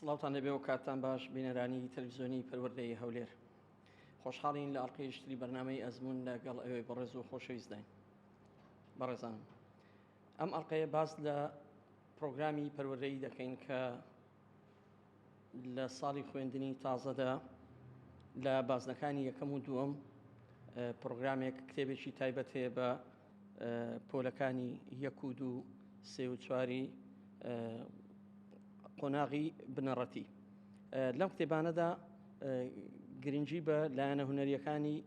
سڵاوتان لەبێ و کاتان باش بینەرانی تەلویزیۆنی پەروەردەی هەولێر خۆشحاڵین لە ئەڵلقەیشتری بەرنمەی ئەزمون لەگەڵ ئەوێ بەڕێز و خۆشەویستداین بەڕێزان ئەم ئەڵلقەیە باس لە پرۆگرامی پەروەردەی دەکەین کە لە ساڵی خوێندنی تازەدا لە بازنەکانی یەکەم و دووەم پرۆگرامێک کتێبێکی تایبەت هەیە بە پۆلەکانی یەک و دوو سێ و چواری قۆناغی بنەڕەتی لەم کتێبانەدا گرنگی بە لایەنە هوەریەکانی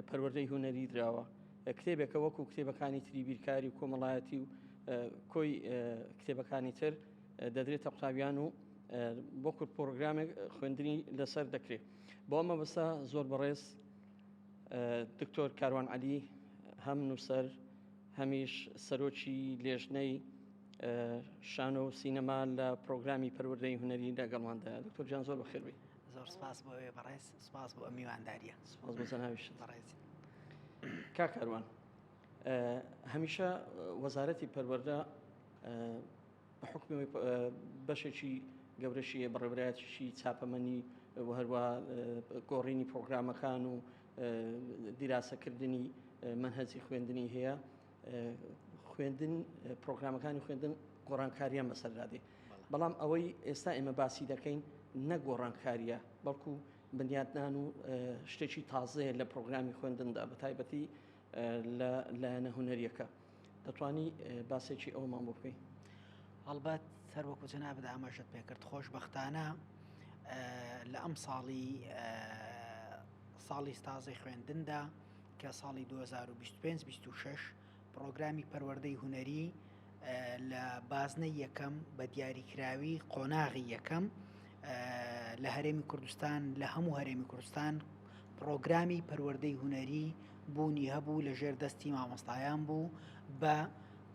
پەروەردەی هوەری دراوە کتێبێکە وەکو کتێبەکانی تری بیرکاری و کۆمەڵایەتی و کۆی کتێبەکانی تر دەدرێتە قوتابیان و بۆ کورد پرۆگرامێک خوێندنی لەسەر دەکرێت بۆ ئەمە بەسە زۆر بەڕێز دکتۆر کاروان علی هەم نووسەر هەمیش سەرۆکی لێژنەی شانۆ و سینەما لە پرۆگرامی پەروەردەی هوەری لەگەڵماندا دکتۆر جان زۆر بەخێبی زۆر سپاس بۆ ئەوێ بەڕێز سپاس بۆ ئەمیوانداریە سپاس بۆ زەناویش بەڕێزی کاکەروان هەمیشە وەزارەتی پەروەردە بە حکمەوەی بەشێکی گەورەشی هەیە بەڕێبرایەتیشی چاپەمەنی و هەروە گۆڕینی پرۆگرامەکان و دیراسەکردنی منهەجی خوێندنی هەیە خوێندن پرۆگرامەکانی خوێندن گۆڕانکاریان بەسەردادێ بەڵام ئەوەی ئێستا ئێمە باسی دەکەین نەگۆڕانکاریە بەڵکو بنیاتنان و شتێکی تازەیە لە پرۆگرامی خوێندندا بە تایبەتی لە لایەنە هونەریەکە دەتوانی باسێکی ئەومان بۆ بکەی هەڵبەت سەروەکو جەنابەت ئاماژەت پێکرد خۆشببختانە لە ئەم ساڵی ساڵی ستازی خوێندندا کە ساڵی 2025 26 پرۆگرامی پەروەردەی هوەری لە بازنەی یەکەم بە دیاریکراوی قۆناغی یەکەم لە هەرێمی کوردستان لە هەموو هەرێمی کوردستان پرۆگرامی پەروەردەی هوەری بوونی هەبوو لە ژێر دەستی مامۆستایان بوو بە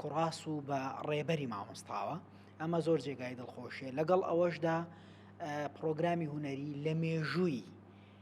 کوڕاس و بە ڕێبەری مامۆستاوە ئەمە زۆر جێگای دڵخۆشیە لەگەڵ ئەوەشدا پرۆگرامی هوەری لە مێژووی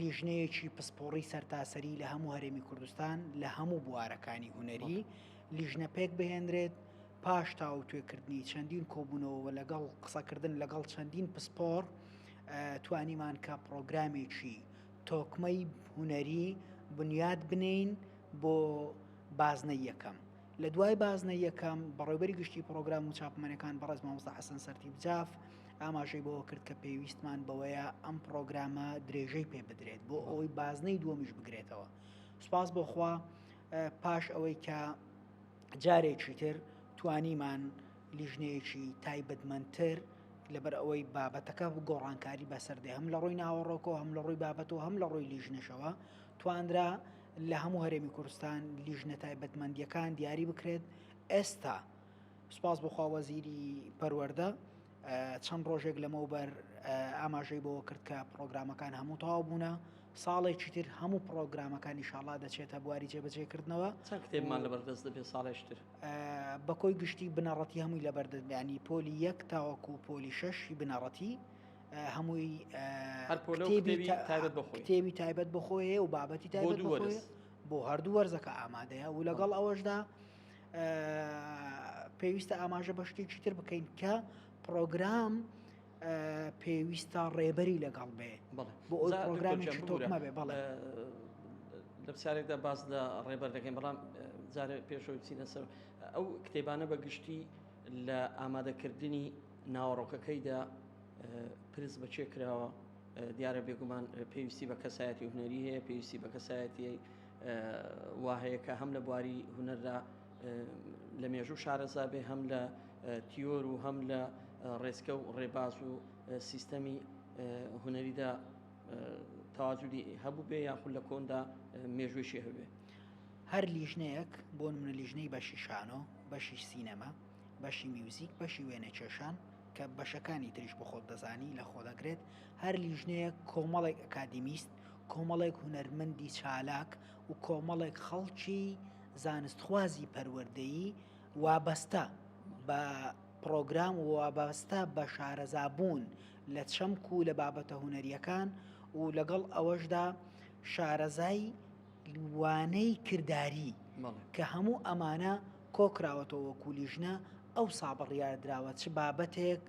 لیژنەیەکی پسپۆڕی سەرتاسەری لە هەموو هەرێمی کوردستان لە هەموو بوارەکانی هونەری لیژنە پێک بهێنرێت پاش تاوتوێکردنی چەندین کۆبوونەوە لەگەڵ قسەکردن لەگەڵ چەندین پسپۆر توانیمان کە پرۆگرامێکی تۆکمەی هونەری بنیاد بنین بۆ بازنە یەکەم لە دوای بازنەی یەکەم، بەڕێوبەری گشتی پرۆگرام و چاپمەنەکان بەڕێز مامۆستا حەسەن سەرتیپ جاف ئاماژەی بەوە کرد کە پێویستمان بەوەیە ئەم پرۆگرامە درێژەی پێ بدرێت بۆ ئەوەی بازنەی دووەمیش بگرێتەوە سوپاس بۆخوا پاش ئەوەی کە جارێکی تر توانیمان لیژنەیەکی تایبەتمەندتر لەبەر ئەوەی بابەتەکە گۆڕانکاری بەسەردێ هەم لە ڕووی ناوەڕۆکەوە هەم لە ڕووی بابەتەوە هەم لە ڕووی لیژنەشەوە توانرا لە هەموو هەرێمی کوردستان لیژنە تایبەتمەندیەکان دیاری بکرێت ئێستا سپاس بخوا وەزیری پەروەەردە چەند ڕۆژێک لەمەوبەر ئاماژەی بەوە کرد کە پرۆگرامەکان هەموو تاوا بوونە ساڵێکی تر هەموو پرۆگرامەکانی شاڵا دەچێتە بواری جێبەجێکردنەوە کتێبمان لە بەردەست دەبێت ساڵێشتر بە کۆی گشتی بنەڕەتی هەمووی لە بەردەستبیانی پۆلی یەک تاوەکو پۆلی شەشی بنەڕەتی هەمووی تێوی تایبەت بخۆیە و بابەتی تا بۆ هەردوو وەرزەکە ئامادەیە و لەگەڵ ئەوەشدا پێویستە ئاماژە بە شتێکی تر بکەین کە پرۆگرام پێویستە ڕێبەری لەگەڵ بێ بۆ ئەو پرۆگرامی تۆکمە بێ بەڵێ لە پرسیارێکدا باس لە ڕێبەر دەکەین بەڵام جارێ پێشەوە چینە سەر ئەو کتێبانە بە گشتی لە ئامادەکردنی ناوەڕۆکەکەیدا پرس بە کێ کراوە؟ دیارە بێگومان پێویستی بە کەسایەتی هونەری هەیە پێویستی بە کەسایەتی وا هەیە کە هەم لە بواری هونەردا لە مێژوو شارەزا بێ هەم لە تیۆر و هەم لە ڕێسکە و ڕێباز و سیستەمی هونەریدا تاجودی هەبوو بێ یاخود لە کۆندا مێژوێکی هەبێ هەر لیژنەیەک بۆ منە لیژنەی بەشی شانۆ بەشی سینەما بەشی میوزیک بەشی وێنە کێشان کە بەشەکانی تریش بە خۆت دەزانی لە خۆ دەگرێت هەر لیژنەیە کۆمەڵێک ئەکادیمیست کۆمەڵێک هونەرمەندی چالاک و کۆمەڵێک خەڵکی زانستخوازی پەروەردەیی وابەستە بە پرۆگرام وابەستە بە شارەزابوون لە چەمک و لە بابەتە هونەریەکان و لەگەڵ ئەوەشدا شارەزای وانەی کرداری کە هەموو ئەمانە کۆکراوەتەوە وەکو لیژنە ئەوسا بڕیاردراوە چ بابەتێک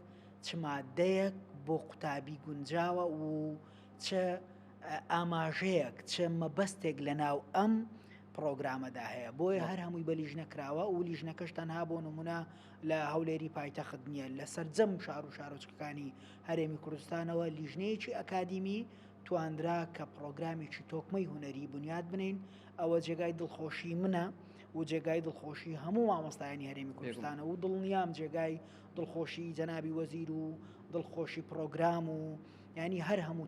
چ مادەیەک بۆ قوتابی گونجاوە و چ ئاماژەیەک چ مەبەستێک لە ناو ئەم پرۆگرامەدا هەیە بۆیە هەر هەمووی بە لیژنە کراوە و لیژنەکەش تەنها بۆ نمونە لە هەولێری پایتەخت نییە لە سەررجەم شار و شارۆچکەکانی هەرێمی کوردستانەوە لیژنەیەکی ئەکادیمی تواندرا کە پڕۆگرامێکی تۆکمەی هونەری بنیات بنێین، ئەوە جێگای دڵخۆشی منە و جێگای دڵخۆشی هەموو مامۆستایانی هەرێمی کوردستانە و دڵنیام جێگای دڵخۆشی جەنابی وەزیر و دڵخۆشی پڕۆگرام و ینی هەر هەموو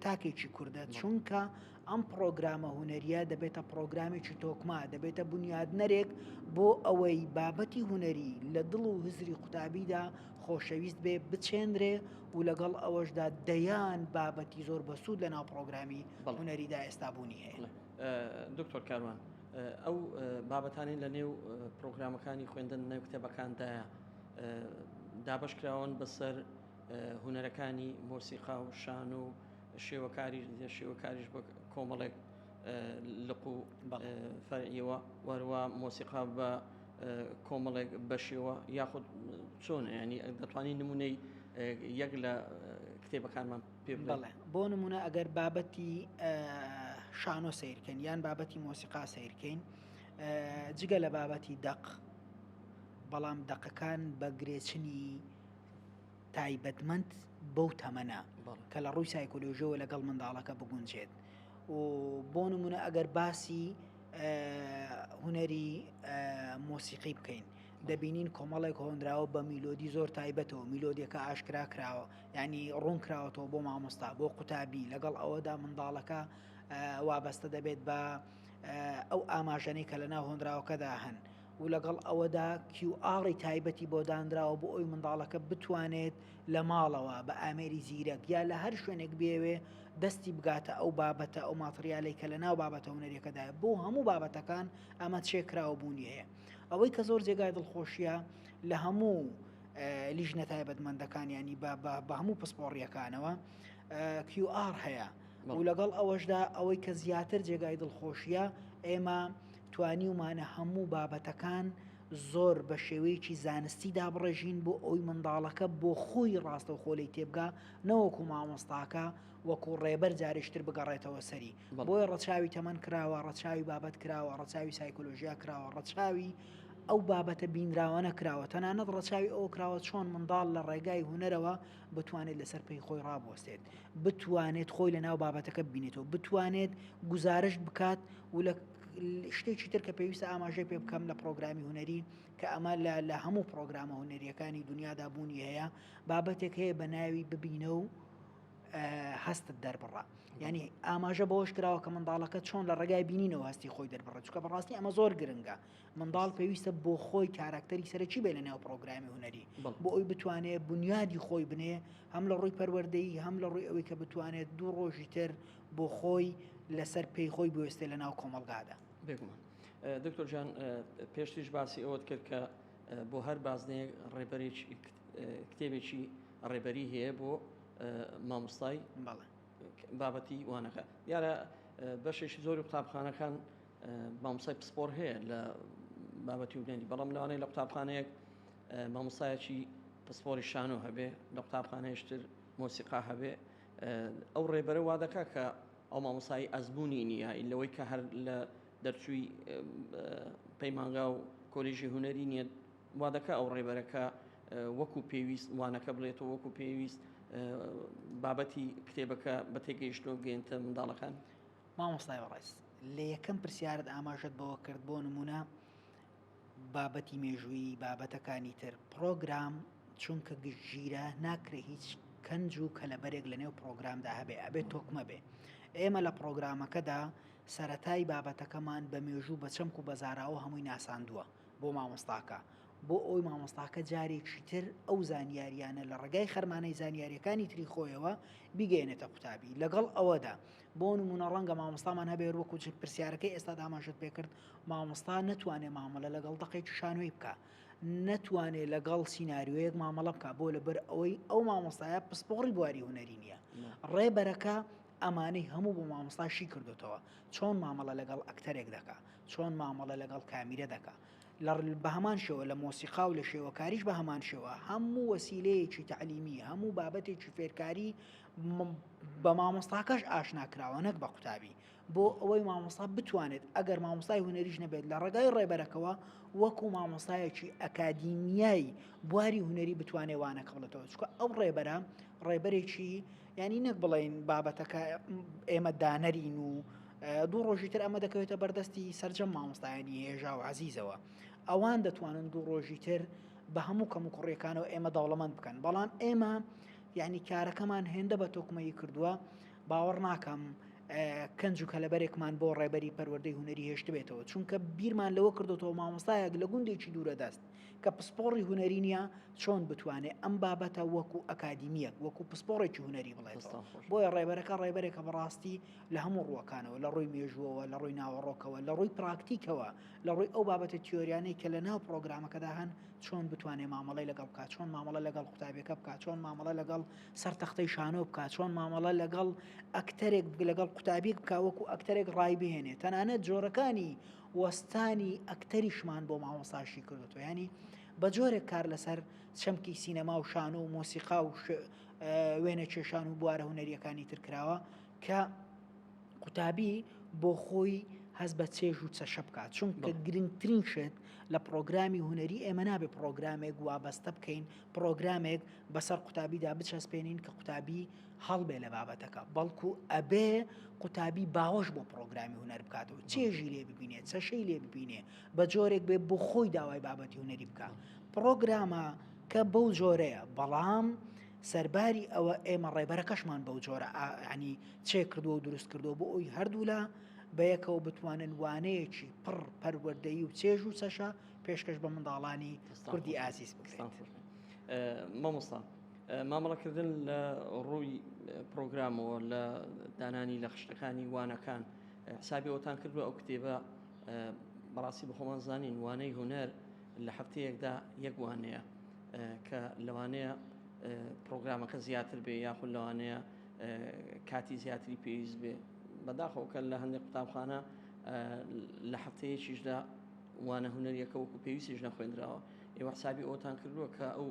تاکێکی کوردە چونکە ئەم پڕۆگرامە هوەریە دەبێتە پڕۆگرامێکی تۆکما دەبێتە بنیادنەرێک بۆ ئەوەی بابەتی هوەری لە دڵ و هزری قوتابیدا خۆشەویست بێ بچێنرێ و لەگەڵ ئەوەشدا دەیان بابەتی زۆر بەسوود لە ناو پڕۆگرامی هونەریدا ئێستا بوونی هەیە. دکتۆر کاروان ئەو بابەتانەی لە نێو پڕۆگرامەکانی خوێندن نێو کتێبەکاندایە دابەش کراون بەسەر هونەرەکانی مۆسیقا و شان و شێوەکاری شێوەکاریش بە کۆمەڵێک لق و فەرعیەوە وەروە مۆسیقا بە کۆمەڵێک بەشێوە یاخود چۆن ینی دەتوانین نمونەی یەک لە کتێبەکانمان پێ بڵێ بۆ نمونە ئەگەر بابەتی شانۆ سیرکەین یان بابەتی مۆسیقا سیرکەین جگە لە بابەتی دەق بەڵام دەقەکان بە گرێچنی تایبەتمەند بەو تەمەنە کە لە ڕووی سایکۆلۆژیەوە لەگەڵ منداڵەکە بگونجێت و بۆ نمونە ئەگەر باسی هوەری مۆسیقی بکەین دەبینین کۆمەڵێک هۆنراوە بە میلۆدی زۆر تایبەتەوە میلۆدیەکە ئاشکرا کراوە ینی ڕوون کراوەەوە بۆ مامۆستا بۆ قوتابی لەگەڵ ئەوەدا منداڵەکە وابەستە دەبێت بە ئەو ئاماژەەی کە لە ناو هۆنراوەکەدا هەن و لەگەڵ ئەوەدا کیو ئاڕی تایبەتی بۆ دانراوە بۆ ئەوی منداڵەکە بتوانێت لە ماڵەوە بە ئامێری زیرەک یا لە هەر شوێنێک بێوێ دەستی بگاتە ئەو بابەتە ئەو ماتریالەی کە لە ناو بابەتە هونەرەکەدا بۆ هەموو بابەتەکان ئەمە چێکراوە بوونیەیە ئەوەی کە زۆر جێگای دڵخۆشیە لە هەموو لیژنە تایبەتمەندەکان ینی بە هەموو پسپۆڕیەکانەوە QR هەیە و لەگەڵ ئەوەشدا ئەوەی کە زیاتر جێگای دڵخۆشیە ئێمە توانیومانە هەموو بابەتەکان زۆر بە شێوەیەکی زانستی دابڕێژین بۆ ئەوەی منداڵەکە بۆ خۆی ڕاستەوخۆ لێی تێبگا نەوەکو مامۆستاکە وەکو ڕێبەر جارێکی تر بگەڕێتەوە سەری. بۆیە ڕەچاوی تەمەن کراوە، ڕەچاوی بابەت کراوە، ڕەچاوی سایکۆلۆژیا کراوە، ڕەچاوی ئەو بابەتە بینراوانە کراوە، تەنانەت ڕەچاوی ئەوە کراوە چۆن منداڵ لە ڕێگای هونەرەوە بتوانێت لەسەر پێی خۆی ڕابوەستێت بتوانێت خۆی لە ناو بابەتەکە ببینێتەوە بتوانێت گزارشت بکات و لە شتێکی تر کە پێویستە ئاماژەی پێ بکەم لە پرۆگرامی هوەری کە ئەمە لە لە هەموو پرۆگرامە هوەریەکانی دنیادا بوونی هەیە بابەتێک هەیە بە ناوی ببینە و هەستت دەربڕە ینی ئاماژە بەوەش کراوە کە منداڵەکە چۆن لە ڕێگای بینینەوە هەستی خۆی دەربڕە چکە بەڕاستی ئەمە زۆر گرنگە منداڵ پێویستە بۆ خۆی کاراکتەری سەرەکی بێ لە نێو پرۆگرامی هوەری بۆ ئەوی بتوانێت بنیادی خۆی بنێ هەم لە ڕووی پەروەردەی هەم لە ڕووی ئەوەی کە بتوانێت دوو ڕۆژی تر بۆ خۆی لەسەر پێی خۆی بوێستێ لە ناو کۆمەلگادا بێگومان دکتۆر جان پێشتیش باسی ئەوەت کرد کە بۆ هەر بازنەیەک ڕێبەرێک کتێبێکی ڕێبەری هەیە بۆ مامۆستای بابەتی وانەکە دیارە بەشێکی زۆری قوتابخانەکان مامۆستای پسپۆر هەیە لە بابەتی وگەنی بەڵام لەوانەیە لە قوتابخانەیەک مامۆستایەکی پسپۆری شانۆ هەبێ لە قوتابخانەیشتر مۆسیقا هەبێ ئەو ڕێبەرە وا دەکا کە ئەو مامۆسایی ئەزمموی نییە لەوەی کە هەر لە دەرچووی پەیمانگا و کۆلیژی هوەری نییە وا دەکە ئەو ڕێبەرەکە وەکو پێویست وانەکە بڵێتەوە وەکو پێویست بابەتی کتێبەکە بە تێگەیشتۆ گەێنتە منداڵەکان مامۆستای بەڕێز لە یەکەم پرسیارت ئاماژەت بەوە کرد بۆ نمونە بابەتی مێژووی بابەتەکانی تر پرۆگرام چونکە گشتگیرە ناکرێ هیچ کەنج و کەلەبەرێک لە نێو پرۆگرامدا هەبێ ئەبێت تۆکمە بێ ئێمە لە پرۆگرامەکەدا سەتای بابەتەکەمان بە مێژوو بە چەمک و بەزاراوە هەمووی ناساندووە بۆ مامۆستاکە بۆ ئەوی مامۆستاکە جارێکی تر ئەو زانیاریانە لە ڕێگای خەرمانەی زانیاریەکانی تری خۆیەوە بیگەێنێتە قوتابی لەگەڵ ئەوەدا بۆ نمونە ڕەنگە مامۆستامان هەبێت وەکو پرسیارەکەی ئێستا داماشت پێکرد مامۆستا نتوانێت مامەلە لەگەڵ دەقێکی شانۆی بکە نتوانێت لەگەڵ سینناریوەیەک مامەڵە بکە بۆ لەبەر ئەوەی ئەو مامۆستایە پسپۆڕی بواری هوەری نییە ڕێبەرەکە ئەمانەی هەموو بۆ مامۆستاشی کردوتەوە چۆن مامەڵە لەگەڵ ئەکتەرێک دەکە چۆن مامەڵە لەگەڵ کامیرە دەکە لە بە هەمان شێوە لە مۆسیقا و لە شێوەکاریش بە هەمان شێوە هەموو وەسیلەیەکی تعلیمی هەموو بابەتێکی فێرکاری بە مامۆستاکەش ئاشنا کراوە نەک بە قوتابی بۆ ئەوەی مامۆستا بتوانێت ئەگەر مامۆستای هوەریش نەبێت لە ڕێگای ڕێبەرەکەەوە وەکو مامۆستایەکی ئەکادیمیایی بواری هوەری بتوانێ وانە کەڵێتەوە چکە ئەو ڕێبەرە ڕێبەرێکی ینی نەک بڵین بابەتەکە ئێمە دانەرین و دوو ڕۆژی تر ئەمە دەکەوێتە بەردەستی سرجەم مامۆستایانی هێژا و عزیزەوە ئەوان دەتوانن دوو ڕۆژی تر بە هەموو کەم و کوڕیەکانەوە ئێمە دەوڵەمەند بکەن بەڵام ئێمە یەعنی کارەکەمان هێندە بە تۆکمەیی کردووە باوەڕ ناکەم کەنج و کەلەبەرێکمان بۆ ڕێبەری پەروەردەی هوەری هێشتبێتەوە چونکە بیرمان لەوە کردوەوە مامۆستایەک لە گوندێکی دوورە دەست کە پسپۆڕی هوەری نیە چۆن بتوانێت ئەم بابەتە وەکو ئەکادیمیەک وەکو پسپۆڕێکی هوەری بڵێت بۆیە ڕێبەرەکە ڕێبەرێکە بەڕاستی لە هەموو ڕوەکانەوە لە ڕووی مێژوەوە لە ڕووی ناوەڕۆکەوە لە ڕووی پراکتیکەوە لە ڕووی ئەو بابەتە تیۆریانەی کە لە ناو پرۆگرامەکەدا هەن چۆن بتوانێ مامەڵەی لەگەڵ بکا، چۆن مامەڵە لەگەڵ قوتابیەکە بکا، چۆن مامەڵە لەگەڵ سەر تەختەی شانۆ بکا، چۆن مامەڵە لەگەڵ ئەکتەرێک بگە لەگەڵ قوتابیەک بکا وەکو ئەکتەرێک ڕای بهێنێ تەنانەت جۆرەکانی وەستانی ئەکتەریشمان بۆ مامۆستاشی کردوەوە ینی بە جۆرێک کار لەسەر چەمکی سینەما و شانۆ و مۆسیقا و وێنە کێشان و بوارە هوەریەکانی ترکراوە کە قوتابی بۆ خۆی هەست بە چێژ و چەشە بکات چونکە گرنگترین شێت لە پرۆگرامی هوەری ئێمە نابێ پرۆگرامێک وابەستە بکەین پرۆگرامێک بەسەر قوتابیدا بچەسپێنین کە قوتابی هەڵبێ لە بابەتەکە بەڵکو ئەبێ قوتابی باوەش بۆ پرۆگرامی هوەر بکاتەوە چێژی لێ ببینێ چەشەی لێ ببینێ بە جۆرێک بێ بۆ خۆی داوای بابەتی هوەری بکە پرۆگرامە کە بەو جۆرەیە بەڵام سەرباری ئەوە ئێمە ڕێبەرەکەشمان بەو جۆرە یعنی چێ کردووە و دروست کردووە بۆ ئەوی هەردوولا بەیەکەوە بتوانن وانەیەکی پڕ پەروەردەی و چێژ و چەشە پێشکەش بە منداڵانی کوردی ئازیز بکرێت مامۆستا مامەڵەکردن لە ڕووی پرۆگرامەوە لە دانانی لە خشتەکانی وانەکان حسابی ئەوتان کردووە ئەو کتێبە بەڕاستی بە خۆمان زانین وانەی هوەر لە هەفتەیەکدا یەک وانەیە کە لەوانەیە پرۆگرامەکە زیاتر بێ یاخود لەوانەیە کاتی زیاتری پێویست بێ بەداخەوەکە لە هەندێک قوتابخانە لە هەفتەیەکیشدا وانە هوەریەکە وەکو پێویستیش نەخوێنراوە ئێوە حسابی ئەوتان کردووە کە ئەو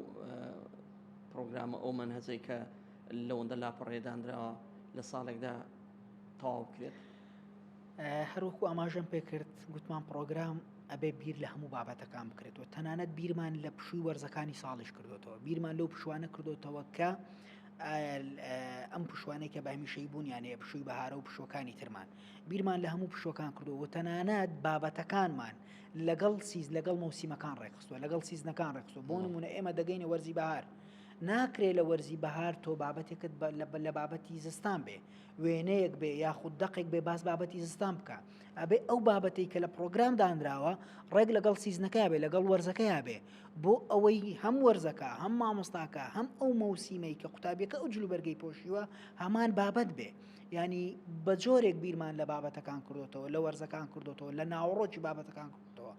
پرۆگرامە ئەو منهزەی کە لەوەندە لاپەڕێدانراوە لە ساڵێکدا تەواو کرێت هەروەکو ئاماژەم پێکرد گوتمان پرۆگرام ئەبێ بیر لە هەموو بابەتەکان بکرێتەوە تەنانەت بیرمان لە پشووی وەرزەکانی ساڵیش کردوێتەوە بیرمان لەو پشوانە کردوتەوە کە ئەم پشوانەی کە بەمیشەی بوونیانەیە پشووی بەهارە و پشوەکانی ترمان بیرمان لە هەموو پشوەکان کردەوە تەنانەت بابەتەکانمان لەگەڵ سیز لەگەڵ مەوسیمەکان ڕێکخستوە لەگەڵ سیزنەکان ڕێکخستوە بۆ نمونە ئێمە دەگەینە وەرزی بەهار ناکرێت لە وەرزی بەهار تۆ بابەتێکت لە بابەتی زستان بێ وێنەیەک بێ یاخود دەقێک بێ باس بابەتی زستان بکە ئەبێ ئەو بابەتی کە لە پرۆگرام دانراوە ڕێک لەگەڵ سیزنەکە بێ لەگەڵ وەرزەکەیا بێ بۆ ئەوەی هەم وەرزەکە هەم مامۆستاکە هەم ئەو مەوسیمەی کە قوتابیەکە ئەو جلو بەرگەی پۆشیوە هەمان بابەت بێ ینی بە جۆرێک بیرمان لە بابەتەکان کردوتەوە لە وەرزەکان کردوتەوە لە ناوەڕۆکی بابەتەکان کردەوە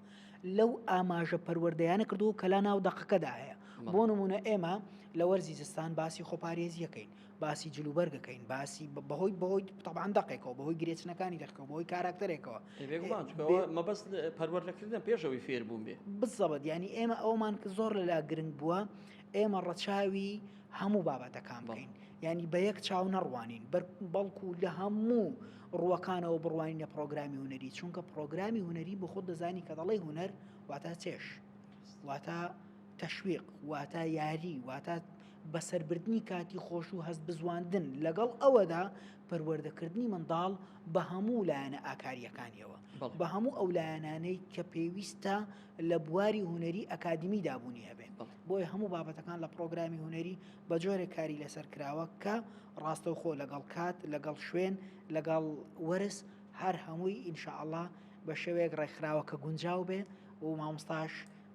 لەو ئاماژە پەروەردەیانە کردو کە لا ناو دەقەکەدا هەیە بۆ نمونە ئێمە لە وەرزی زستان باسی خۆپارێزیەکەین باسی جل و بەرگەکەین باسی بەهۆی بەهۆی تەبان دەقێکەوە بەهۆی گرێچنەکانی دەقەوە بەهۆی کاراکتەرێکەوە مەبەست پەروەردەکردن پێشەوەی فێر بووم بێ بزەبەت ینی ئێمە ئەومان کە زۆر لەلا گرنگ بووە ئێمە ڕەچاوی هەموو بابەتەکان بڵین ینی بە یەک چاو نەڕوانین بەڵکو لە هەموو ڕووەکانەوە بڕوانینە پرۆگرامی هوەری چونکە پرۆگرامی هوەری بۆ خۆ دەزانی کە دەڵی هوەر واتە چێش واتە تەشویق واتە یاری واتە بەسەربردنی کاتی خۆش و هەستبزواندن، لەگەڵ ئەوەدا پەروەردەکردنی منداڵ بە هەموو لایەنە ئاکارییەکانیەوە، بە هەموو ئەو لایەنانەی کە پێویستە لە بواری هونەری ئەکادیمیدا بوونی هەبێ، بۆیە هەموو بابەتەکان لە پڕۆگرامی هونەری بە جۆرێک کاری لەسەر کراوە کە ڕاستەوخۆ لەگەڵ کات، لەگەڵ شوێن، لەگەڵ وەرز هەر هەمووی ان شاء اللە بە شێوەیەک ڕێکخراوە کە گونجاو بێ و مامۆستاش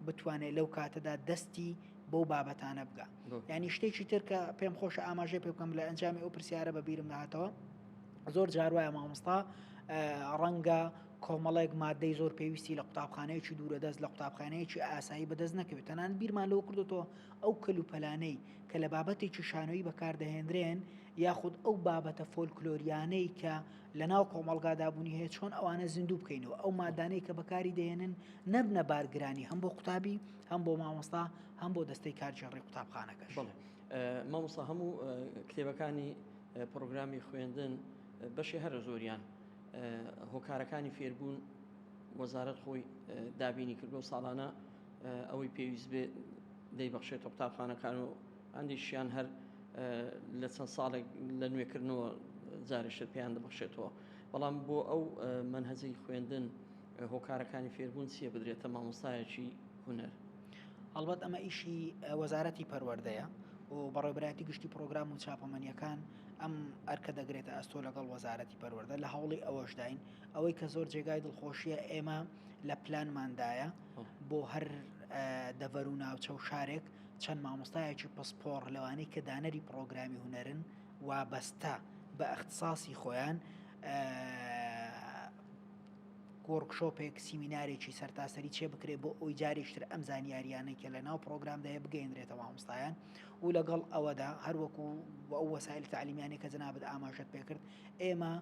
بتوانێت لەو کاتەدا دەستی بەو بابەتانە بگا ینی شتێکی تر کە پێم خۆشە ئاماژێ پێ بکەم لە ئەنجامی ئەو پرسیارە بە بیرم نهاتەوە زۆر جاروایە مامۆستا ڕەنگە کۆمەڵێک مادەی زۆر پێویستی لە قوتابخانەیەکی دوورە دەست لە قوتابخانەیەکی ئاسایی بەدەست نەکەوێت تەنان بیرمان لەوە کردوەوە ئەو کەلوپەلانەی کە لە بابەتێکی شانۆیی بەکاردەهێنرێن یاخود ئەو بابەتە فۆلکلۆریانەی کە لەناو کۆمەڵگادا بوونی هەیە چۆن ئەوانە زیندوو بکەینەوە ئەو مادانەی کە بەکاری دەێنن نەبنە بارگرانی هەم بۆ قوتابی هەم بۆ مامۆستا هەم بۆ دەستەی کارگێڕی قوتابخانەکەش بڵێ مامۆستا هەموو کتێبەکانی پرۆگرامی خوێندن بەشی هەرە زۆریان هۆکارەکانی فێربوون وەزارت خۆی دابینی کردو ساڵانە ئەوەی پێویست بێ دەیبخشێتە قوتابخانەکان و ئەندیشیان هەر لە چەند ساڵێک لە نوێکردنەوە جارێشتر پێیان دەبەخشێتەوە بەڵام بۆ ئەو منهەجەی خوێندن هۆکارەکانی فێربوون چییە بدرێتە مامۆستایەکی هونەر هەڵبەت ئەمە ئیشی وەزارەتی پەروەردەیە و بەڕێبراتی گشتی پرۆگرام و چاپەمەنیەکان ئەم ئەرکە دەگرێتە ئەستۆ لەگەڵ وەزارەتی پەروەەردە لە هەوڵی ئەوەشداین ئەوەی کە زۆر جێگای دڵخۆشیە ئێمە لە پلانماندایە بۆ هەر دەڤەر و ناوچە و شارێک چەند مامۆستایەکی پسپۆڕ لەوانەی کە دانەری پڕۆگرامی هونەرن وابەستە بە ئەختساسی خۆیان وۆرکشۆپێک سیمینارێکی سەرتاسەری چێ بکرێت بۆ ئەوی جارێکتر ئەم زانیاریانەی کە لە ناو پرۆگرامداە بگەێنرێتە مامۆستایان و لەگەڵ ئەوەدا هەروەکو ئەو وەسایل تعلیمیانی کە جنابەت ئاماژت پێکرد ئێمە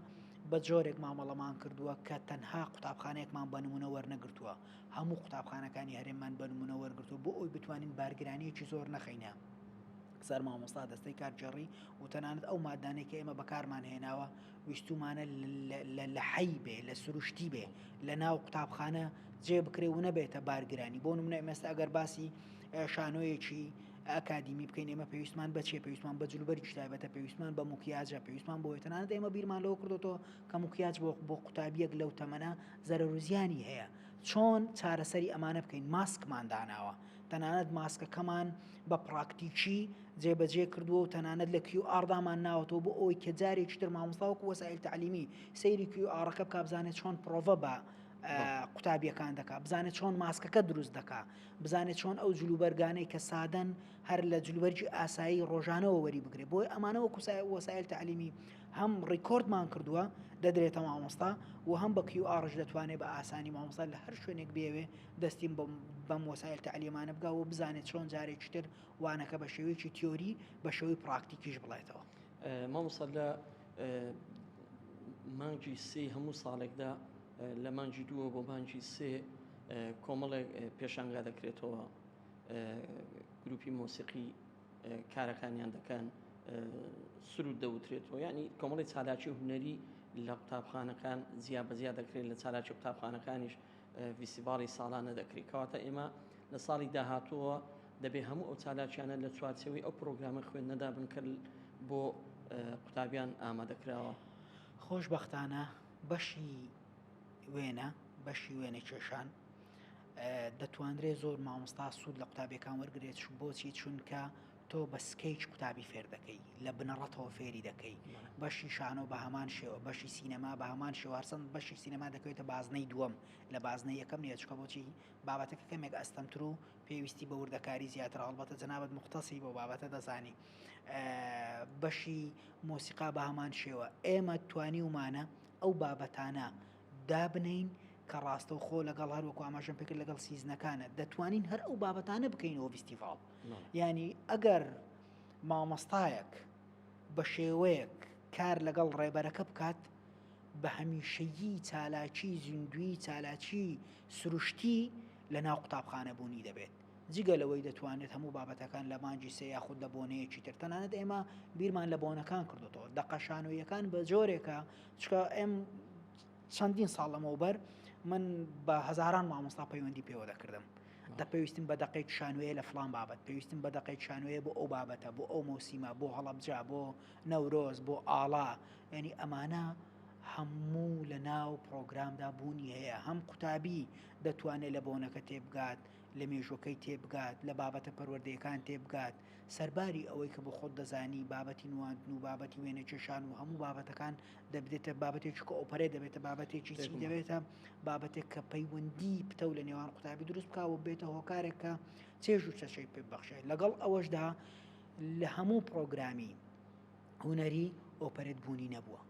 بە جۆرێک مامەڵەمان کردووە کە تەنها قوتابخانەیەکمان بە نمونە وەرنەگرتووە هەموو قوتابخانەکانی هەرێممان بە نموونە وەرگرتووە بۆ ئەوەی بتوانین بارگرانییەکی زۆر نەخەینە سەر مامۆستا دەستەی کارگێڕی و تەنانەت ئەو مادانەی کە ئێمە بەکارمان هێناوە ویستومانە لە حەی بێ لە سروشتی بێ لە ناو قوتابخانە جێ بکرێ و نەبێتە بارگرانی بۆ منە ئێمەستا ئەگەر باسی شانۆیەکی ئەکادیمی بکەین ئێمە پێویستمان بەچێ پێویستمان بە جلوبەر شتایبەتە پێویستمان بە مکیاجە پێویستمان بۆ تەنانەت ئێمە بیرمان لەوە کردوەوە کە مکیاج بۆ بۆ قوتابیەک لەو تەمەە زەرەرو زیانی هەیە چۆن چارەسەری ئەمانە بکەین ماسکمان داناوە تەنانەت ماسکەکەمان بە پراکتیکی جێبەجێ کردووە و تەنانەت لە کیو ئاردامان ناوەتەوە بۆ ئەوەی کە جارێکی تر مامۆستاوەکو وەسائل تعلیمی سەیری کیو ئاڕەکە بکە بزانێت چۆن پرۆڤە بە قوتابیەکان دەکا بزانێت چۆن ماسکەکە دروست دەکا بزانێت چۆن ئەو جلوبەرگانەی کە سادەن هەر لە جلوبەرجی ئاسایی ڕۆژانەوە وەری بگرێت بۆی ئەمانەوە کوسای وەسایل تعلیمی هەم ڕیکۆردمان کردووە دەدرێتە مامۆستا و هەم بە کیو ئاڕش دەتوانێت بە ئاسانی مامۆستا لە هەر شوێنێک بێوێ دەستیم بەم وەسایل تعلیمانە بگا و بزانێت چۆن جارێکی تر وانەکە بە شێوەیەکی تیۆری بە شێوەی پراکتیکیش بڵێتەوە مامۆستا لە مانگی سێ هەموو ساڵێکدا لە مانگی دووە بۆ مانگی سێ کۆمەڵێک پێشانگا دەکرێتەوە گروپی مۆسیقی کارەکانیان دەکەن سرود دەوترێتەوە ینی کۆمەڵی چالاکی هوەری لە قوتابخانەکان زیا بەزیا دەکرێت لە چالاکی قوتابخانەکانیش ویسیباڵی ساڵانە دەکرێت کەواتە ئێمە لە ساڵی داهاتووە دەبێ هەموو ئەو چالاکیانە لە چوارچەوەی ئەو پرۆگرامە خوێندنەدا بنکرد بۆ قوتابیان ئامادەکراوە خۆشببختانە بەشی وێنە بەشی وێنە کێشان دەتوانرێت زۆر مامۆستا سوود لە قوتابیەکان وەرگرێت بۆچی چونکە تۆ بە سکیچ قوتابی فێر دەکەی لە بنەڕەتەوە فێری دەکەی بەشی شانۆ بە هەمان شێوە بەشی سینەما بە هەمان شێوارسەند بەشی سینەما دەکەوێتە بازنەی دووەم لە بازنەی یەکەم نیە چکە بۆچی بابەتەکە کەمێک ئەستەمتر و پێویستی بە وردەکاری زیاتر هەڵبەتە جەنابەت مختصری بۆ بابەتە دەزانی بەشی مۆسیقا بە هەمان شێوە ئێمە توانی ومانە ئەو بابەتانە دابنێین کە ڕاستەوخۆ لەگەڵ هەر وەکو ئاماژەم پێکرد لەگەڵ سیزنەکانە دەتوانین هەر ئەو بابەتانە بکەینەوە ڤستیڤاڵ ینی ئەگەر مامۆستایەک بە شێوەیەک کار لەگەڵ ڕێبەرەکە بکات بە هەمیشەیی چالاکی زیندوی چالاکی سروشتی لە ناو قوتابخانەبوونی دەبێت جگە لەوەی دەتوانرێت هەموو بابەتەکان لە مانگی سێ یاخود لە بۆنەیەکی تر تەنانەت ئێمە بیرمان لە بۆنەکان کردوتەوە دەقە شانۆییەکان بە جۆرێکە چکە ئەم چەندین ساڵ لەمەوبەر من بە هزاران مامۆستا پەیوەندی پێوە دەکردم دە پێویستم بە دەقی شانوەیە لە فلان بابەت پێویستم بە دەقی شانوەیە بۆ ئەو بابەتە بۆ ئەو مۆسیمە بۆ هەڵبجا بۆ نەورۆز بۆ ئاڵا ینی ئەمانە هەموو لە ناو پرۆگرامدا بوونی هەیە هەم قوتابی دەتوانێت لە بۆنەکە تێبگات لە مێژووەکەی تێبگات، لە بابەتە پەروەردەیەکان تێبگات، سەرباری ئەوەی کە بۆ خۆت دەزانی بابەتی نواندن و بابەتی وێنە کێشان و هەموو بابەتەکان دەبدێتە بابەتێک چکە ئۆپەرێ دەبێتە بابەتێکی چی دەبێتە بابەتێک کە پەیوەندی پتەو لە نێوان قوتابی دروست بکە و بێتە هۆکارێک کە چێژ و چەچەی پێ بەخشێت لەگەڵ ئەوەشدا لە هەموو پرۆگرامی هونەری ئۆپەرێت بوونی نەبووە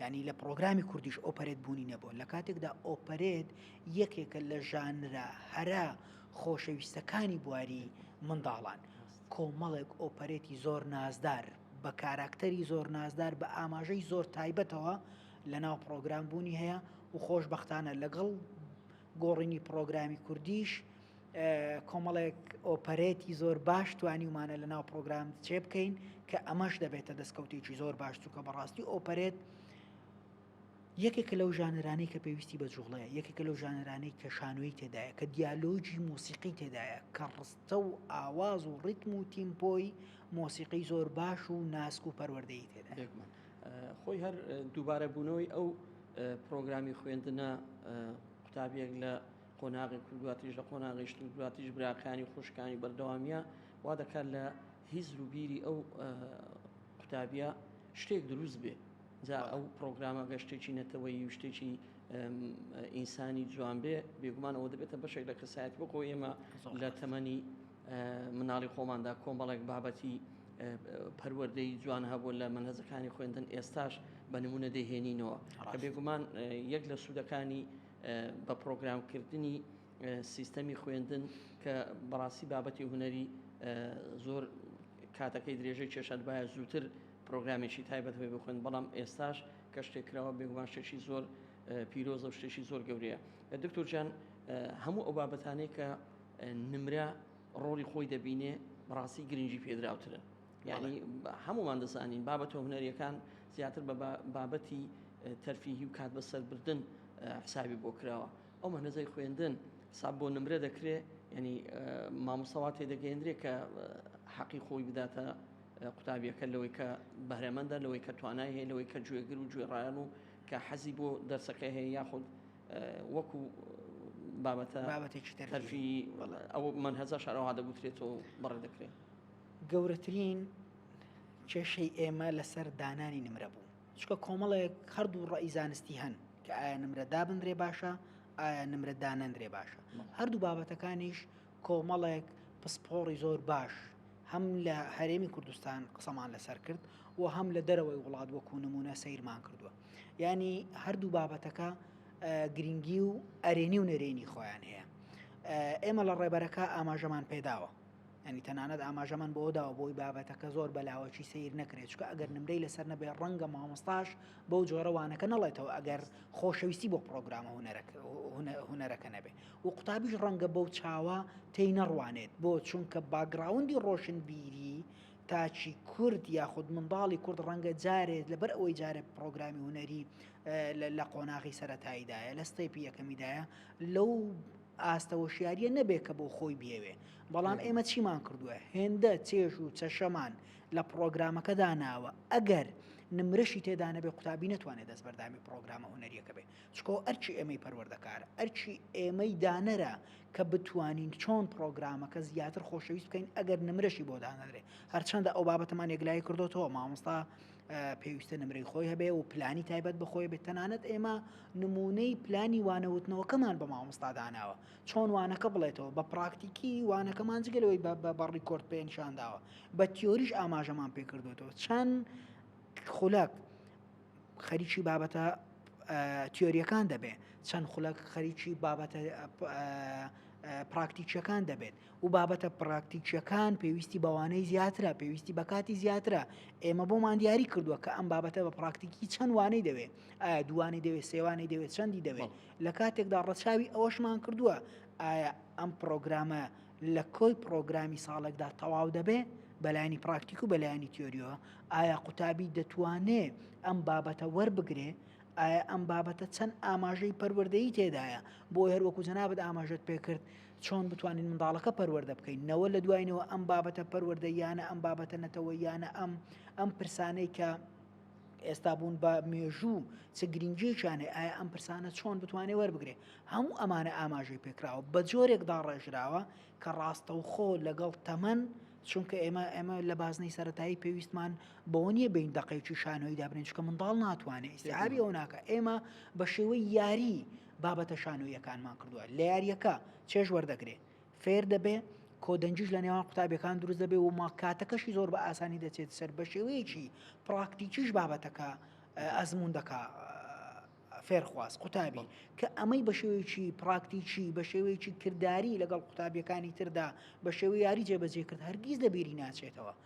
ینی لە پرۆگرامی کوردیش ئۆپەرێت بوونی نەبووە لە کاتێکدا ئۆپەرێت یەکێکە لە ژانرە هەرە خۆشەویستەکانی بواری منداڵان کۆمەڵێک ئۆپەرێتی زۆر نازدار بە کاراکتەری زۆر نازدار بە ئاماژەی زۆر تایبەتەوە لە ناو پرۆگرام بوونی هەیە و خۆشببختانە لەگەڵ گۆڕینی پرۆگرامی کوردیش کۆمەڵێک ئۆپەرێتی زۆر باش توانیومانە لە ناو پرۆگرام چێ بکەین کە ئەمەش دەبێتە دەستکەوتێکی زۆر باش چووکە بەڕاستی ئۆپەرێت یەکێکە لەو ژانرانەی کە پێویستی بە جوڵەیە یەکێکە لەو ژانرانەی کە شانۆی تێدایە کە دیالۆجی مۆسیقی تێدایە کە ڕستە و ئاواز و ڕیتم و تیمپۆی مۆسیقی زۆر باش و ناسک و پەروەردەی تێدا خۆی هەر دووبارە بوونەوەی ئەو پرۆگرامی خوێندنە قوتابیەک لە قۆناغی کورداتیش لە قۆناغی شتومکراتیش براکانی و خوشکانی بەردەوامیە وا دەکات لە هیزر و بیری ئەو قوتابیە شتێک دروست بێ جا ئەو پرۆگرامە گەشتێکی نەتەوەی و شتێکی ئینسانی جوان بێ بێگومان ئەوە دەبێتە بەشێک لە کەسایەت بۆ خۆ ئێمە لە تەمەنی مناڵی خۆماندا کۆمەڵێک بابەتی پەروەردەی جوان هەبوو لە منهزەکانی خوێندن ئێستاش بە نمونە دەهێنینەوە کە بێگومان یەک لە سوودەکانی بە پرۆگرام کردنی سیستەمی خوێندن کە بەڕاستی بابەتی هوەری زۆر کاتەکەی درێژەی کێشاد باە زووتر پرۆگرامێکی تایبەت بێ بخوێن بەڵام ئێستاش کە شتێکراوە بێگومان شتێکی زۆر پیرۆزە و شتێکی زۆر گەورەیە دکتۆر جان هەموو ئەو بابەتانەی کە نمرە ڕۆڵی خۆی دەبینێ بەڕاستی گرنگی پێدراوترن یانی هەمووان دەزانین بابەتە هونەریەکان زیاتر بە بابەتی تەرفیهی و کات بەسەربردن حسابی بۆ کراوە ئەو مەنەزەی خوێندن حساب بۆ نمرە دەکرێ ینی مامۆسەوا تێدەگەێندرێ کە حەقی خۆی بداتە قوتابیەکە لەوەی کە بەرەمەندە لەوەی کە توانای هەیە لەوەی کە گوێگر و گوێڕایان و کە حەزی بۆ دەرسەکە هەیە یاخود وەکو بابەتە بابەتێکی تەرفی ئەو من هەزە شارەوە دەگوترێتەوە بەڕێ دەکرێت گەورەترین کێشەی ئێمە لەسەر دانانی نمرە بوو چکە کۆمەڵێک هەردوو ڕای زانستی هەن کە ئایا نمرە دابندرێ باشە ئایا نمرە دانەندرێ باشە هەردوو بابەتەکانیش کۆمەڵێک پسپۆڕی زۆر باش هەم لە هەرێمی کوردستان قسەمان لەسەر کرد و هەم لە دەرەوەی وڵات وەکو نمونە سیرمان کردووە ینی هەردوو بابەتەکە گرنگی و ئەرێنی و نەرێنی خۆیان هەیە ئێمە لە ڕێبەرەکە ئاماژەمان پێداوە یانی تەنانەت ئاماژەمان بۆ داوە بۆی بابەتەکە زۆر بە لاوەکی سەیر نەکرێت چکە ئەگەر نمرەی لەسەر نەبێ ڕەنگە مامۆستاش بەو جۆرە وانەکە نەڵێتەوە ئەگەر خۆشەویستی بۆ پرۆگرامە هونەرەکە نەبێ و قوتابیش ڕەنگە بەو چاوە تێی نەڕوانێت بۆ چونکە باگراوندی ڕۆشن بیری تاچی کورد یاخود منداڵی کورد ڕەنگە جارێت لەبەر ئەوەی جارێ پرۆگرامی هوەری لە قۆناغی سەتاییدایە لە ستەیپی یەکەمیدایە لەو ئاستە هۆشیاریە نەبێ کە بۆ خۆی بیەوێ بەڵام ئێمە چیمان کردووە هێندە چێژ و چەشەمان لە پرۆگرامەکەدا ناوە ئەگەر نمرەشی تێدانەبێ قوتابی نتوانێت دەست بەردامی پرۆگرامە هوەریەکە بێ چکۆ ئەرچی ئێمەی پەروەردەکار ئەرچی ئێمەی دانەرە کە بتوانین چۆن پرۆگرامەکە زیاتر خۆشەویست بکەین ئەگەر نمرەشی بۆ دانەرێ هەرچەندە ئەو بابەتەمان یەکلای کردوەوە مامۆستا پێویستە نمرەی خۆی هەبێ و پلانی تایبەت بەخۆی بێت تەنانەت ئێمە نمونەی پلانی وانەوتنەوەکەمان بە مامۆستا داناوە چۆن وانەکە بڵێتەوە بە پراکتیکی وانەکەمان جگەلەوەی بە ڕیکۆرد پێنشان داوە بە تیۆریش ئاماژەمان پێکردوێتەوە چەند خولەک خەریکی بابەتە تیۆریەکان دەبێت چەند خولەک خەریکی بابەتە پراکتیکیەکان دەبێت و بابەتە پڕاکتیکییەکان پێویستی بە وانەی زیاترە، پێویستی بە کاتی زیاترە، ئێمە بۆمان دیاری کردووە کە ئەم بابەتە بە پڕاکتیکی چەند وانەی دەوێ، ئایا دووانەی دەوێت سێوانەی دەوێت چەندی دەوێت، لە کاتێکدا ڕەچاوی ئەوەشمان کردووە ئایا ئەم پڕۆگرامە لە کۆی پڕۆگرامی ساڵێکدا تەواو دەبێ بەلایانی پراکتیک و بەلایانی تیۆریەوە ئایا قوتابی دەتوانێ ئەم بابەتە وەربگرێ ئایا ئەم بابەتە چەند ئاماژەی پەروەردەی تێدایە بۆ هەروەکو جەنابەت ئاماژەت پێکرد چۆن بتوانین منداڵەکە پەروەردە بکەین نەوە لە دوای نەوە ئەم بابەتە پەروەردەییانە ئەم بابەتە نەتەوەییانە ئەم ئەم پرسانەی کە ئێستا بوون بە مێژوو چ گرنگیشانێ ئایا ئەم پرسانە چۆن بتوانێت وەربگرێ هەموو ئەمانە ئاماژەی پێکراوە بە جۆرێک داڕێژراوە کە ڕاستەوخۆ لەگەڵ تەمەن چونکە ئێمە ئێمە لە بازنەی سەتایی پێویستمان بەوە نیە بین دقێکی شانەوەی دابنین چکە منداڵ ناتوانێت ئیسعابی ئەو ناکە ئێمە بە شێوەی یاری بابەتە شانۆییەکانمان کردووە لە یارییەکە چێژ وەردەگرێ فێر دەبێ کۆدەنجیش لە نێوان قوتابیەکان دروست دەبێ و ما کاتەکەشی زۆر بە ئاسانی دەچێت سەر بە شێوەیەکی پراکتیکیش بابەتەکە ئەزمون دەکا فێرخواز قوتابی کە ئەمەی بە شێوەیەکی پراکتیکی بە شێوەیەکی کردداری لەگەڵ قوتابیەکانی تردا بە شێوە یاری جێبەجێ کرد هەرگیز لە بیری ناچێتەوە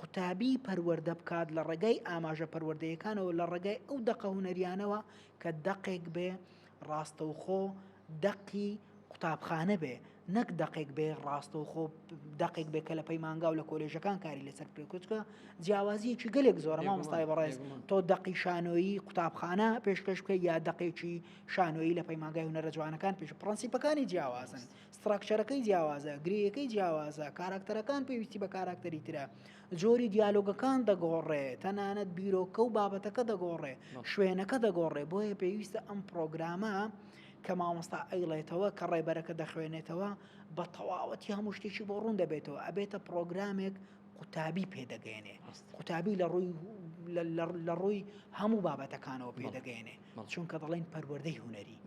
قوتابی پەروەردە بکات لە ڕێگای ئاماژە پەروەردەیەکانەوە لە ڕێگای ئەو دەقە هونەریانەوە کە دەقێک بێ ڕاستەوخۆ دەقی قوتابخانە بێ نەک دەقێک بێ ڕاستە و خۆ دەقێک بێ کە لە پەیمانگا و لە کۆلێژەکان کاری لەسەر پێکوچکە جیاوازیەکی گەلێک زۆرە مامۆستای بەڕێز تۆ دەقی شانۆیی قوتابخانە پێشکەش بکە یا دەقێکی شانۆیی لە پەیمانگای هونەرە جوانەکان پێش پرەنسیپەکانی جیاوازن ستراکچەرەکەی جیاوازە، گرێیەکەی جیاوازە، کاراکتەرەکان پێویستی بە کاراکتەری ترە، جۆری دیالۆگەکان دەگۆڕێ، تەنانەت بیرۆکە و بابەتەکە دەگۆڕێ، شوێنەکە دەگۆڕێ، بۆیە پێویستە ئەم پرۆگرامە کە مامۆستا ئەیڵێتەوە کە ڕێبەرەکە دەخوێنێتەوە بە تەواوەتی هەموو شتێکی بۆ ڕوون دەبێتەوە ئەبێتە پرۆگرامێک قوتابی پێدەگەێنێ قوتابی لە ڕووی لە ڕووی هەموو بابەتەکانەوە پێدەگەێنێ چونکە دەڵێن پەروەەردەی هوەری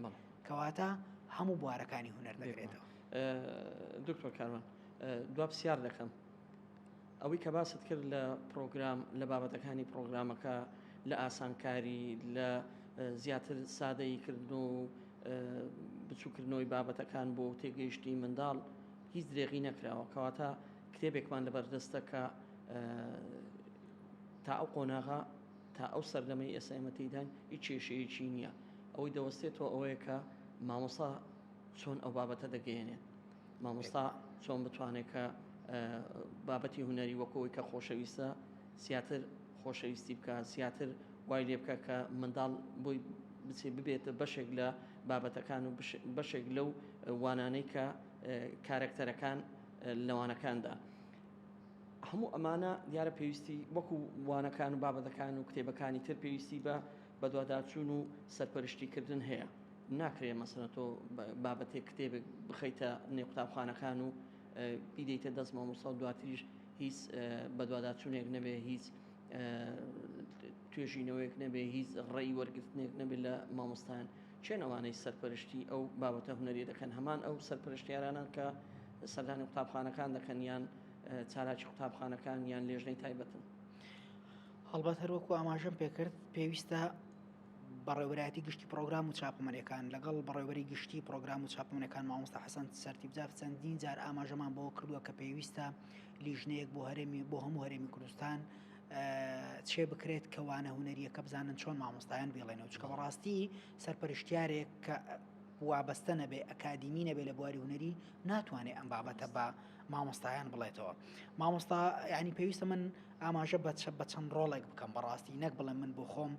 کەواتە هەموو بوارەکانی هونەر دەگرێتەوە. دکتۆر کاروان دوا پسیار دەکەم ئەوەی کە باست کرد لە پرۆگرام لە بابەتەکانی پرۆگرامەکە لە ئاسانکاری لە زیاتر سادەی کردن و بچووکردنەوەی بابەتەکان بۆ تێگەیشتی منداڵ هیچ درێغی نەکراوە کەواتە کتێبێکمان لە بەردەستە کە تا ئەو قۆناغا تا ئەو سەردەمەی ئێستا ئێمە تێیداین هیچ کێشەیەکی نییە. ئەوەی دەوەستێتەوە ئەوەیە کە مامۆستا چۆن ئەو بابەتە دەگەیەنێت. مامۆستا چۆن بتوانێت کە بابەتی هونەری وەکو ئەوەی کە خۆشەویستە زیاتر خۆشەویستی بکە زیاتر وای لێ بکە کە منداڵ بۆی بچێ ببێتە بەشێک لە بابەتەکان و بەشێک لەو وانانەی کە کارەکتەرەکان لەوانەکاندا هەموو ئەمانە دیارە پێویستی وەکو وانەکان و بابەتەکان و کتێبەکانی تر پێویستی بە بەدواداچوون و سەرپەرشتیکردن هەیە ناکرێ مەسەنە تۆ بابەتێک کتێبێک بخەیتە نێ قوتابخانەکان و بیدەیتە دەست مامۆستا و دواتریش هیچ بەدواداچوونێک نەبێ هیچ توێژینەوەیەک نەبێ هیچ ڕێی وەرگرتنێک نەبێت لە مامۆستایان کێن ئەوانەی سەرپەرشتی ئەو بابەتە هونەریە دەکەن، هەمان ئەو سەرپەرشتیارانەن کە سەردانی قوتابخانەکان دەکەن یان چالاکی قوتابخانەکان یان لێژنەی تایبەتن؟ هەڵبەت هەروەکو ئاماژەم پێکرد پێویستە بەڕێوەبەرایەتی گشتی پرۆگرام و چاپەمەریەکان لەگەڵ بەڕێوەری گشتی پرۆگرام و چاپەمەەکان مامۆستا حەسەن سەرتیبجاف چەندین جار ئاماژەمان بۆ کردووە کە پێویستە لیژنەیەک بۆ هەرێمی بۆ هەموو هەرێمی کوردستان چێ بکرێت کە وانە هونەریەکە بزانن چۆن مامۆستایان بێڵێنەوە چکە بەڕاستی سەرپەرشتیارێک کە وابەستە نەبێ ئەکادیمی نەبێ لە بواری هوەری ناتوانێت ئەم بابەتە بە مامۆستایان بڵێتەوە مامۆستا ینی پێویستە من ئاماژە بەچە بە چەند ڕۆڵێک بکەم بەڕاستی نەک بڵێ من بۆ خۆم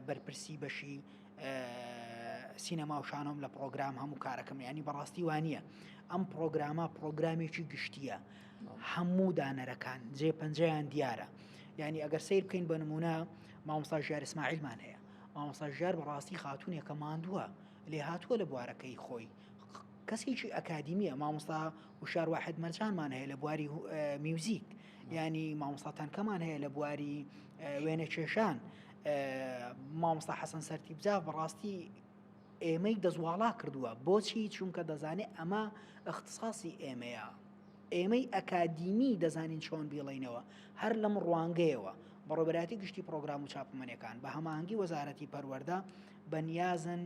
بەرپرسی بەشی سینەما و شانۆم لە پرۆگرام هەموو کارەکەم ینی بەڕاستی وانە ئەم پرۆگرامە پرۆگرامێکی گشتیە هەموو دانەرەکان جێ پەنجەیان دیارە یعنی ئەگەر سیر بکەین بە نمونە مامۆستا ژیار ئیسماعیلمان هەیە مامۆستا ژیار بەڕاستی خاتونێکە ماندووە لێ هاتووە لە بوارەکەی خۆی کەسێکی ئەکادیمیە مامۆستا وشار واحد مەرجانمان هەیە لە بواری میوزیک ینی مامۆستا تەنکەمان هەیە لە بواری وێنە کێشان مامۆستا حەسەن سەرتی بجا بەڕاستی ئێمەی دەستواڵا کردووە، بۆچی؟ چونکە دەزانێت ئەمە ئیختساسی ئێمەیە، ئێمەی ئەکادیمی دەزانین چۆن بیڵێینەوە، هەر لەم ڕوانگەیەوە بەڕێوەبەرایەتی گشتی پڕۆگرام و چاپەمەنیەکان بە هەماهەنگی وەزارەتی پەروەردە بە نیازن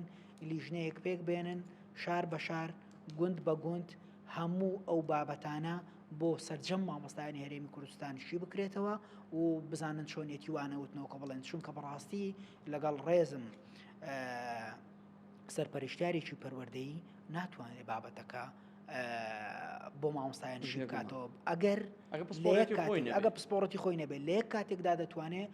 لیژنەیەک پێک بێنن شار بە شار گوند بە گوند هەموو ئەو بابەتانە بۆ سەرجەم مامۆستایانی هەرێمی کوردستان شی بکرێتەوە و بزانن چۆنیەتی وانەوتنەوە کە بڵێن چونکە بەڕاستی لەگەڵ ڕێزم سەرپەرشتیارێکی پەروەردەیی ناتوانێت بابەتەکە بۆ مامۆستایان شی بکاتەوە ئەگەر ئەگە پسپۆڕەتی خۆی نەبێت لە یەک کاتێکدا دەتوانێت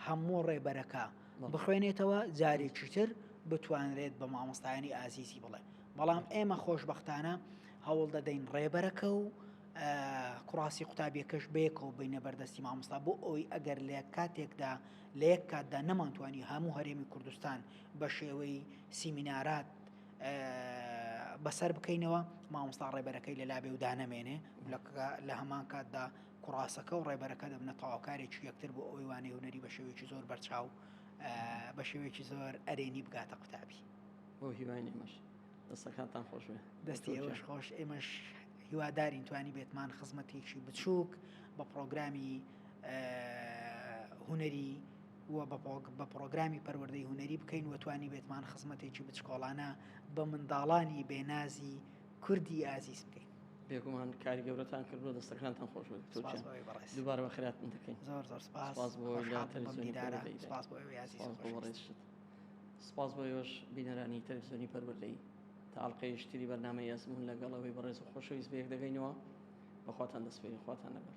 هەموو ڕێبەرەکە بخوێنێتەوە جارێکی تر بتوانرێت بە مامۆستایانی ئازیزی بڵێ بەڵام ئێمە خۆشببختانە هەوڵ دەدەین ڕێبەرەکە و کوڕاستی قوتابیەکەش بێکەوە بینە بەردەستی مامۆستا بۆ ئەوی ئەگەر لە کاتێکدا لە یەک کاتدا نەمانتوانی هەموو هەرێمی کوردستان بە شێوەی سیمینارات بەسەر بکەینەوە مامۆستا ڕێبەرەکەی لە لابێ و دانەمێنێ لە هەمان کاتدا کوڕاسەکە و ڕێبەرەکە دەبنە تەواوکارێکی یەکتر بۆ ئەوی وانەی هوەری بە شێوێکی زۆر بەرچاو بە شێوێکی زۆر ئەرێنی بگاتە قوتابی بۆ هیوانی مەش دەستەکانتان خۆش دەستی ئێوەش خۆش ئێمەش هیوادارین توانی بێتمان خزمەتێکی بچووک بە پرۆگرامی هونەری و بە پڕۆگرامی پەروەردەی هونەری بکەین و توانی بێتمان خزمەتێکی بچکۆڵانە بە منداڵانی بێنازی کوردی ئازیز بکەین بێگومان کاری گەورەتان کردو دەستەکانتان خۆش دوبارە بە خراپن دەکەین زۆر زۆر سپاس سپاس بۆ یۆش بینەرانی تەلویزیۆنی پەروەردەی تاڵقەی شتری بەرنمە یاسمون لەگەڵەوەی بەڕێز و خۆشەویست بێک دەگەینەوە بەخواتان دەسپێری خواتان لەگەڵ